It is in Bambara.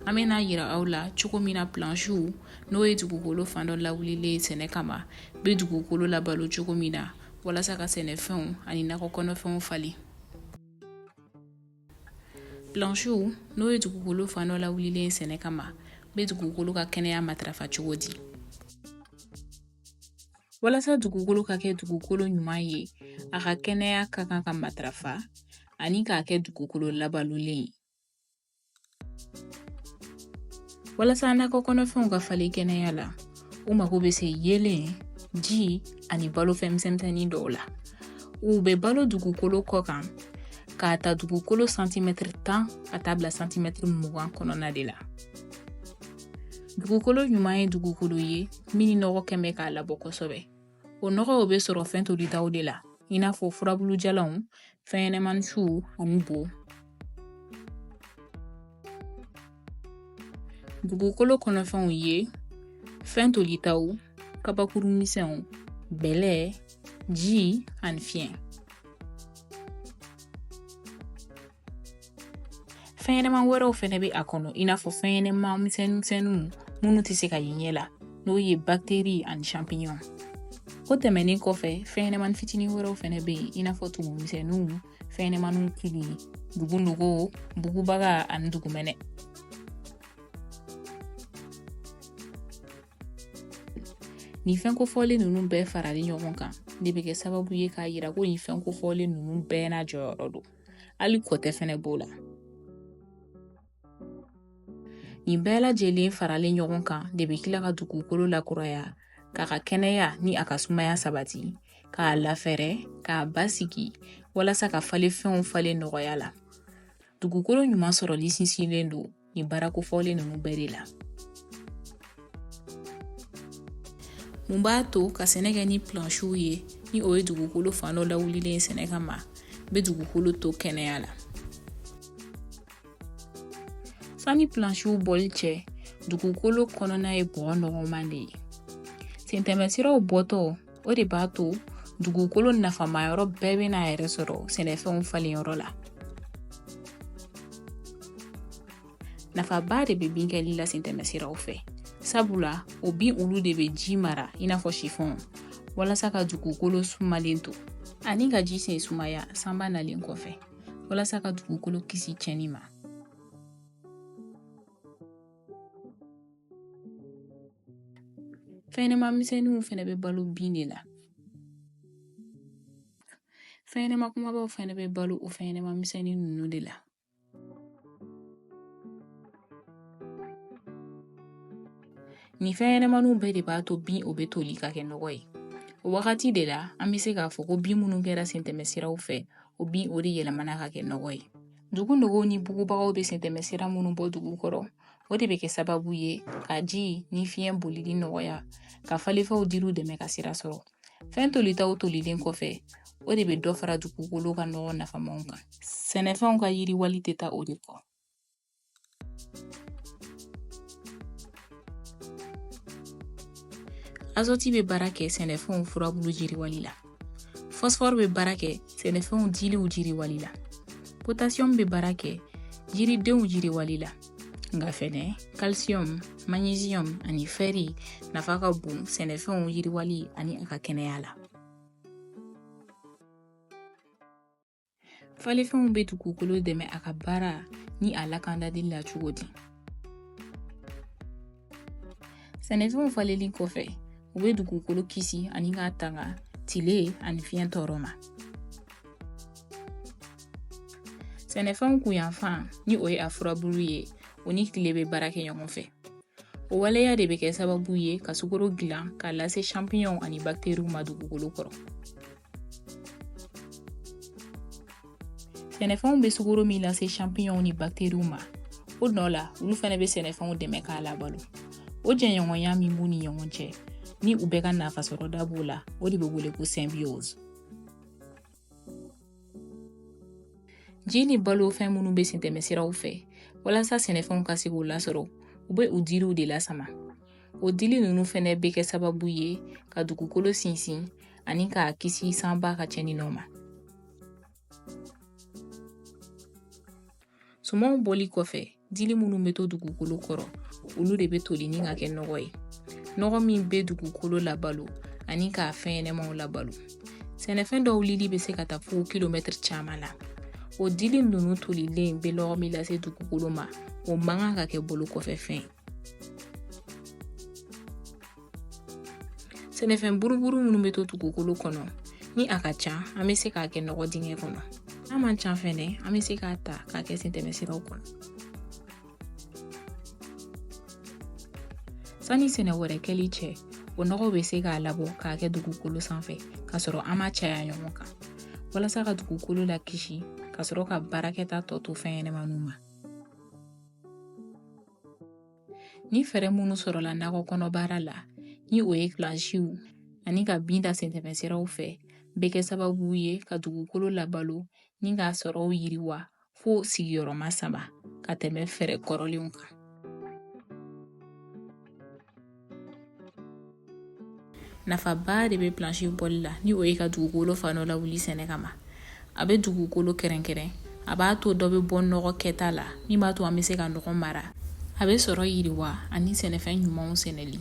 an bɛna yira aw la cogo min na plansiw n'o ye dugukolo fan dɔ lawulilen ye sɛnɛ kama bɛ dugukolo labalo cogo min na walasa ka sɛnɛfɛnw ani nakɔ kɔnɔfɛnw falen plansiw n'o ye dugukolo fan dɔ lawulilen ye sɛnɛ kama bɛ dugukolo ka kɛnɛya matarafa cogo di walasa dugukolo ka kɛ dugukolo ɲuman ye a ka kɛnɛya ka kan ka matarafa ani k'a kɛ dugukolo labalolen ye walasa nakɔ kɔnɔfɛnw ka falen kɛnɛya la u mago bɛ se yeelen ji ani balofɛn misɛnmisɛnnin dɔw la u bɛ balo dugukolo kɔ kan k'a ta dugukolo santimɛtiri tan ka taa bila santimɛtiri mugan kɔnɔna de la dugukolo ɲuman ye dugukolo ye min ni nɔgɔ kɛmɛ k'a labɔ kosɛbɛ o nɔgɔw bɛ sɔrɔ fɛn tolitaw de la i n'a fɔ furabulujalanw fɛnɲɛnɛmani suw ani bo dugukolo kɔnɔfɛnw ye fɛn tolitaw kabakuru misɛnw bɛlɛ ji ani fiɲɛ fɛnɲɛnɛma wɛrɛw fɛnɛ bɛ a kɔnɔ i n'a fɔ fɛnɲɛnɛma misɛnninmisɛnninw minnu tɛ se ka ye ɲɛ la n'o ye bakteri ani champignon o tɛmɛnen kɔfɛ fɛnɲɛnɛmani fitinin wɛrɛw fɛnɛ bɛ yen i n'a fɔ tumumisɛnninw fɛnɲɛnɛmaniw kili dugunogo bugubaga ani dugumɛnɛ nin fɛn kofɔlen ninnu bɛɛ faralen ɲɔgɔn kan de bɛ kɛ sababu ye k'a yira ko nin fɛn kofɔlen ninnu bɛɛ n'a jɔyɔrɔ don hali kɔtɛ fɛnɛ b'o la nin bɛɛ lajɛlen faralen ɲɔgɔn kan de bɛ kila ka dugukolo lakuraya k'a ka kɛnɛya ni a ka sumaya sabati k'a lafɛrɛ k'a basigi walasa ka falenfɛnw falen nɔgɔya la dugukolo ɲuman sɔrɔli sinsinnen don nin baara kofɔlen ninnu bɛɛ de la mun b'a to ka sɛnɛ kɛ ni plansiw ye ni o ye dugukolo fan dɔ lawulilen ye sɛnɛ kama bɛ dugukolo to kɛnɛya la sani plansiw bɔli cɛ dugukolo kɔnɔna ye bɔgɔ nɔgɔman de ye sentɛmɛsiraw bɔtɔ o de b'a to dugukolo nafama yɔrɔ bɛɛ bɛ n'a yɛrɛ sɔrɔ sɛnɛfɛnw falen yɔrɔ la nafaba de bɛ bin kɛli la sentɛmɛsiraw fɛ sabula o bin olu de bɛ ji mara i n'a fɔ sifɔn walasa ka dugukolo sumalen to ani ka ji sen sumaya sanba nalen kɔfɛ walasa ka dugukolo kisi cɛnni ma fɛnɲɛnɛma misɛnninw fɛnɛ bɛ balo bin de la fɛnɲɛnɛma kumabaw fɛnɛ bɛ balo o fɛnɲɛnɛma misɛnnin ninnu de la nin fɛnɲɛnɛmaninw bɛɛ de b'a to bin o bɛ toli ka kɛ nɔgɔ ye o wagati de la an bɛ se k'a fɔ ko bin minnu kɛra sentɛmɛ siraw fɛ o bin o de yɛlɛmana ka kɛ nɔgɔ ye dugu nɔgɔw ni bugubagaw bɛ sentɛmɛ sira minnu bɔ dugu kɔrɔ o de bɛ kɛ sababu ye ka ji ni fiɲɛ bolili nɔgɔya ka falenfɛnw diliw dɛmɛ ka sira sɔrɔ fɛn tolitaw tolilen kɔfɛ o de bɛ dɔ fara dugukolo ka nɔgɔ nafamanw kan sɛnɛfɛnw ka yiriwali tɛ taa o de kɔ azɔti bɛ baara kɛ sɛnɛfɛnw furabulu jiriwali la fɔsifɔri bɛ baara kɛ sɛnɛfɛnw diliw jiriwali la potasiyɔmu bɛ baara kɛ yiridenw jiriwali la nka fɛnɛ kalsiyɔmu maɲiziyɔmu ani fɛri nafa ka bon sɛnɛfɛnw yiriwali ani a ka kɛnɛya la falenfɛnw bɛ dugukolo dɛmɛ a ka baara ni a lakandali la cogo di Sɛnɛfɛnw falenli kɔfɛ u bɛ dugukolo kisi ani k'a tanga tile ani fiɲɛ tɔɔrɔ ma sɛnɛfɛnw kunyanfan ni o ye a furabulu ye o ni tile bɛ baara kɛ ɲɔgɔn fɛ o waleya de bɛ kɛ sababu ye ka sukoro dilan k'a lase sanpiyɔnw ani bakteriw ma dugukolo kɔrɔ sɛnɛfɛnw bɛ sukoro min lase sanpiyɔnw ni bakteriw ma o nɔ la olu fɛnɛ bɛ sɛnɛfɛnw dɛmɛ k'a labalo o jɛɲɔgɔnya min b'u ni ɲɔgɔn cɛ ni u bɛɛ ka nafasɔrɔda b'o la o de bɛ wele ko symbiose ji ni balofɛn minnu bɛ sentɛmɛsiraw fɛ walasa sɛnɛfɛnw ka se k'u lasɔrɔ u bɛ u diriw de lasama o dili ninnu fɛnɛ bɛ kɛ sababu ye ka dugukolo sinsin ani k'a kisi sanba ka cɛnni nɔ ma sumanw bɔli kɔfɛ dili minnu bɛ to dugukolo kɔrɔ olu de bɛ toli ni ka kɛ nɔgɔ ye nɔgɔ min bɛ dugukolo labalo ani k'a fɛnɲɛnɛmaw labalo sɛnɛfɛn dɔw lili bɛ se ka taa fo kilomɛtiri caman la o dili ninnu tolilen bɛ nɔgɔ min lase dugukolo ma o man kan ka kɛ bolo kɔfɛ fɛn ye sɛnɛfɛn buruburu minnu bɛ to dugukolo kɔnɔ ni a ka ca an bɛ se k'a kɛ nɔgɔ dingɛ kɔnɔ n'a man ca fɛnɛ an bɛ se k'a ta k'a kɛ sentɛmɛ siraw kɔnɔ sani sɛnɛ wɛrɛ kɛli cɛ o nɔgɔ bɛ se k'a labɔ k'a kɛ dugukolo sanfɛ k'a sɔrɔ an m'a caya ɲɔgɔn kan walasa ka dugukolo lakisi ka sɔrɔ ka baarakɛta tɔ to fɛnɲɛnɛmaninw ma ni fɛɛrɛ minnu sɔrɔla nakɔ kɔnɔ baara la ni o ye plansiw ani ka bin da sentɛmɛsiraw fɛ bɛ kɛ sababu ye ka dugukolo labalo ni k'a sɔrɔw yiriwa fo sigiyɔrɔma saba ka tɛmɛ fɛɛrɛ kɔrɔlenw kan nafaba de bɛ plansi bɔli la ni o ye ka dugukolo fan dɔ lawuli sɛnɛ kama a bɛ dugukolo kɛrɛnkɛrɛn a b'a to dɔ bɛ bɔ nɔgɔ kɛta la min b'a to an bɛ se ka nɔgɔ mara a bɛ sɔrɔ yiriwa ani sɛnɛfɛn ɲumanw sɛnɛli